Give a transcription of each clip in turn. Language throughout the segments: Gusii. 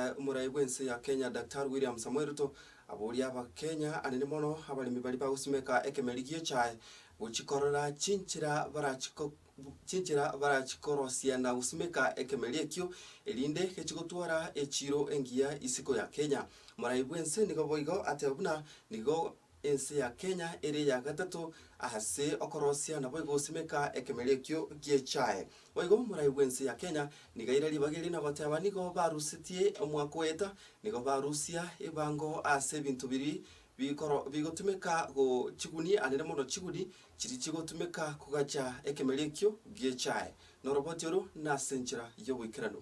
Omoraai bw'ense ya Kenya Daktari William Samoei Ruto aboria abakenya anene mono abaremi baria bagosimeka ekemeri gi'echae gochikorera chinchera barachiko chinchera barachikorosia na gosimeka ekemeri ekio erinde gechigotwara echiro engiya isiko ya Kenya. Omoraai bw'ense nigo boigo ateba buna nigo Ense ya Kenya ere eya gatato ase okorosia naboigo gosimeka ekemer ekio gi'echae. Boigo morai bw'ense ya Kenya niga ere ribaga erio nagoteba nigo barusetie omwaka oeta nigo barusia ebango ase ebinto biri bikoro bigotumeka go chiguni anene mono chiguni chiri chigotumeka kogacha ekemer ekio gi'echae. Noroboti oro nase enchera y'oboikeranu.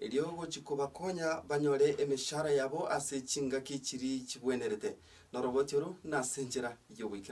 erio gochia kobakonya banyore emeshahara yabo ase chingaki chiria chibwenerete, noroboti oro nase enchera y'ogoikera.